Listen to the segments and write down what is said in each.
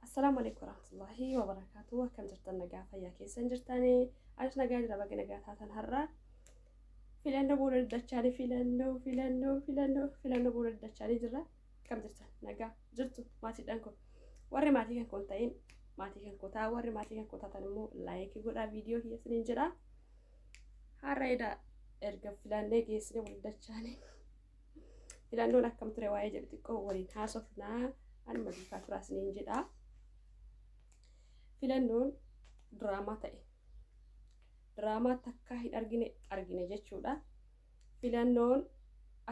Assalaamu alaikum warahmatullahi wabarakatuh. Akkam jirtan nagaa fayyaa keessan jirtanii? Anis nagaa jira baga nagaa taatan har'a. Filannoo booda diddachaanii filannoo filannoo filannoo filannoo booda diddachaanii jirra. Akkam jirtan nagaa jirtu maatiidhaan kun. Warri maatii kan kun ta'in maatii kan kutaa warri maatii kan kutaatan immoo laayikii godhaa viidiyoo keessaniin jedhaa. Har'a eda erga filannee geessine wal dachaane. Filannoon akkam ture waa'ee jedhu xiqqoo waliin haasofnaa anuma duukaa turaa isiniin jedha. Filannoon diraamaa ta'e. Diraamaa takkaa hin argine argine jechuudha. Filannoon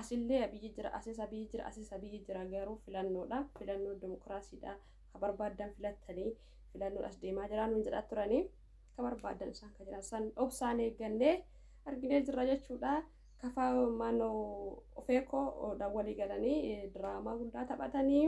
asillee Abiyyi jira, asis Abiyyi jira, asis Abiyyi jira garuu filannoodha. Filannoon dimokiraasiidha. Ka barbaaddan filattanii filannoon as deemaa jira nuun jedhaa turanii. Ka barbaaddan isaan ka jedhan san obsaan eeggannee arginee jirra jechuudha. Kafa maannoo ofeekoo dhaan walii galanii diraamaa guddaa taphatanii.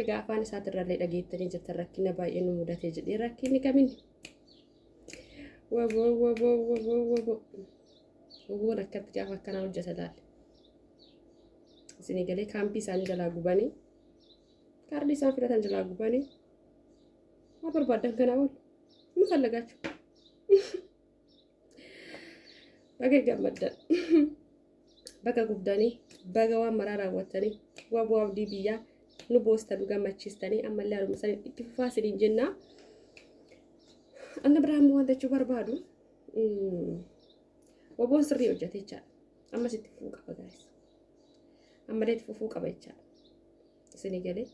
Egaa afaan isaatirrallee dhageettanii jirtan rakkina baay'ee nu mudatee jedhee rakkinni kamin waboo waboo waboo waboo woboon akkatti gaafa akkanaa hojjeta laale isinii galee kaampii isaanii jalaa gubanii kaardii isaan filatan jalaa gubanii maa barbaadan kanaa ol nu fallagaachuu Baga gammaddan. Baga gubdanii. Baga waan maraa raawwattanii. Waan bu'aa abdii biyyaa nu boostanu gammachiistanii ammallee haruma sanii itti fufaa isiniin jenna. Anna biraa ammoo waan jechuu barbaadu. Waboon sirrii hojjete jechaadha. Ammas itti fufuu qaba gaa'is. Ammallee itti fufuu qaba jechaadha. Isinii galee.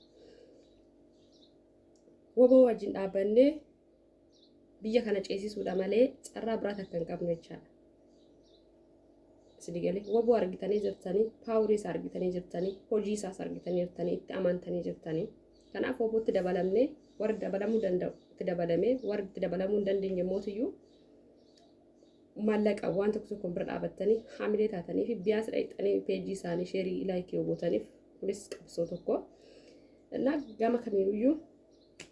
Waboo wajjin dhaabannee biyya kana ceesisuudha malee carraa biraa takka hin qabnu jechaadha. Isin galee waboo argitanii jirtanii, paawurii isaa argitanii jirtanii, hojii isaas argitanii jirtanii, itti amantanii jirtanii. Kanaaf wabootti dabalamnee warri dabalamuu danda'u itti dabalamee warri itti dabalamuu hin dandeenye mootiyyuu maallaqa waan tokko tokko bira dhaabattanii haamilee taatanii fi biyaas dhaqxanii peejii isaanii sheerii ilaayikii yoo gootaniif kunis qabsoo tokko. Innaa gama kamiiyyuu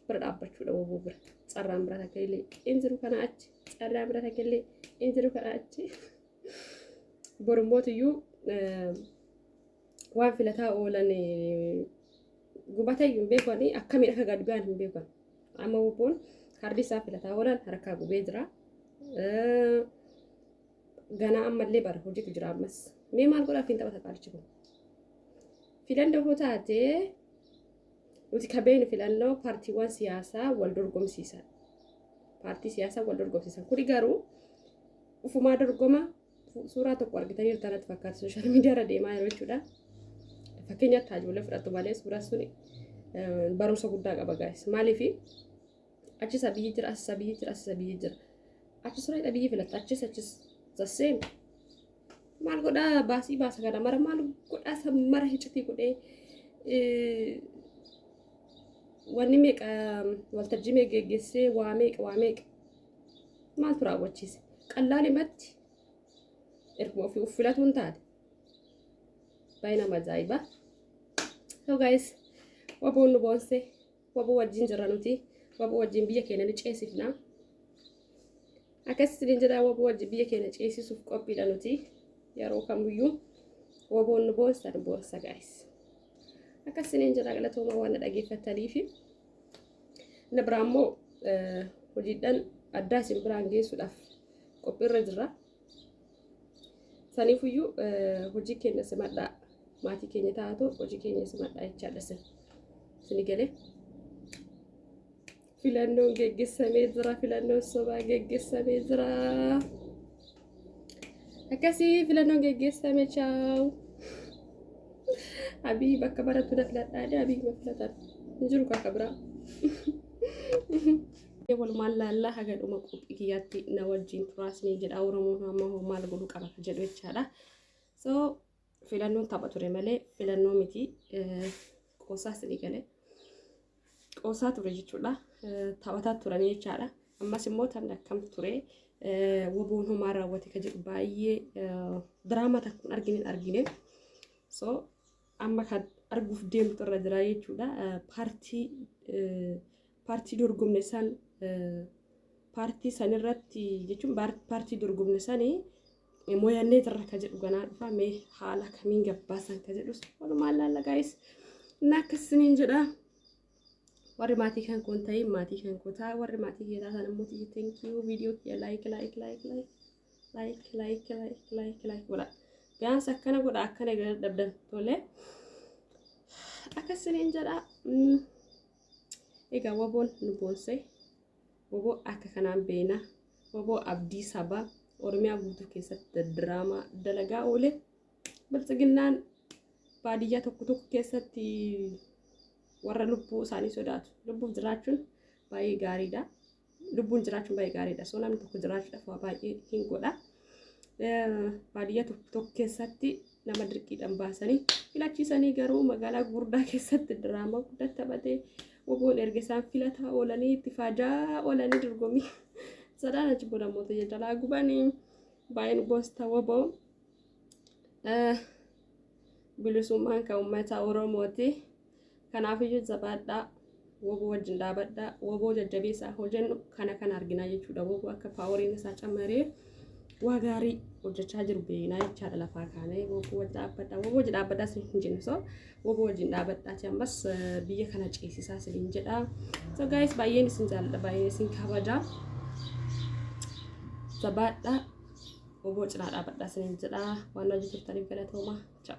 bira dhaabbachuudha waboo bira carraan bira takka illee in jiru kana achi carraan bira takka illee in jiru kana achi borumootiyyuu waan filataa oolan gubatayyuu hin beekan akkamiin akka gad ba'an hin beekan amma waboon hardi isaa filataa oolan harkaa gubee jira ganaa ammallee bara hojiitu jira ammas mee maal godhaaf hin taphata qaalichi kun filannoo taatee Nuti ka beeknu filannoo paartiiwwan siyaasaa wal dorgomsiisan. Paartii siyaasaa wal dorgomsiisan. Kuni garuu ufumaa dorgoma suuraa tokko argitanii jirtu kanatti fakkaata sooshaal miidiyaarra deemaa jiru jechuudha. Fakkeenyaaf taajoolee fudhattu malee suuraa suni barumsa guddaa qaba gaa'is. Maaliif achis abiyyi jira asis abiyyi jira asis abiyyi jira. Achis raayidha biyyi filatta achis achis the same. maal godhaa baasii baasa kana mara maal godhaa san mara hicitii godhee wanni meeqa waltajjii meeqa geggeessee waa meeqa waa meeqa maaltu raawwachiise qallaalimatti erguma ofii of filatuun taate baay'ee nama ajaa'iba so guys waboon nu boonsee Wabo wajjin jirra nuti. Wabo wajjin biyya keenya ni ceesifna. Akkas isiniin jedhaa wabo wajjin biyya keenya ceesisuuf qophiidha nuti. Yeroo kamiyyuu waboon nu boonsa nu boonsa gaayis. Akkas isiniin jedhaa galatooma waan na dhageeffattaniif. Inni biraa immoo hojiidhaan addaa isin biraan geessuudhaaf qophiirra jirra. Saniifuyyuu hojii keenya simadhaa maatii keenya taatu hojii keenya simadhaa jechaadha sin sini galee. Filannoon geggessamee jira filannoon sobaa geggessamee jira. Akkasii filannoon geggeessame chaawu. Abii bakka barattu na filadhaa dee abii ma filatan hin jiru kaaka biraa. Walumaan laallaa haga dhuma qophii kiyyaatti na wajjin turaa isiniin jedha Oromoon amma hoo maal godhuu qaba ka jedhu jechaadha. So filannoon tapha ture malee filannoo miti eh, qoosaa isinii galee qoosaa ture jechuudha. Eh, Taphataa turanii jechaadha. Ammas immoo taphni akkam ture eh, woboon homaa raawwate ka jedhu baay'ee eh, diraamaa takka hin argine hin argine. So Amma kan arguuf deemtu irra jira jechuudha. Paartii paartii dorgomne san paartii san irratti jechuun paartii dorgomne sanii mooyannee jirra ka jedhu ganaa dhufa mee haala kamiin gabbaasan ka jedhus walumaa laalla gaayis na akkasiniin jedha warri maatii kan koon ta'e maatii kan koo ta'a warri maatii kee taatan immoo tiyyi tenkiyuu viidiyoo kiyya laayik laayik laayik laayik like like like like like godha gaansa akkana godha akkana eegala dhabdan tole akkasiniin jedha mm. egaa waboon nu boonsee waboo akka kanaan beena waboo abdii sabaa oromiyaa guutuu keessatti diraamaa dalagaa oole biltsiginnaan baadiyyaa tokko tokko keessatti warra lubbuu isaanii sodaatu lubbuuf jiraachuun baay'ee gaariidha lubbuun jiraachuun baay'ee gaariidha. So namni tokko jiraachuudhaaf waa baay'ee hin godha. Baadiyyaa tokko tokko keessatti nama dirqiidhaan baasanii filachiisanii garuu magaalaa gurguddaa keessatti diraamaa guddaa taphatee oboon erga isaan filataa oolanii itti faajaa oolanii dorgommii sadaan achi booda immoo ta'ee jalaa gubanii baay'een gosta woboo bilisummaan kan uummata Oromooti. Kanaafiyyuu jabaadhaa, wbo wajjin dhaabadhaa, wbo jajjabeessaa hojennu kana kana arginaa jechuudha. Wbo akka paaworiin isaa cammaree waa gaarii hojjechaa jiru beeknaa jechaadha lafaa kaanee wbo wajjin dhaabbadhaa, wbo wajjin dhaabbadhaa isin hin jennu so wbo wajjin dhaabbadhaati ammas eh, biyya kana ceesisaa isin hin jedha. So guys baay'een isin jaalladha, baay'een isin kabaja. Jabaadhaa, wbo cinaa dhaabbadhaa isin hin jedha. Waan hojii turtaniif galatooma. Ciao.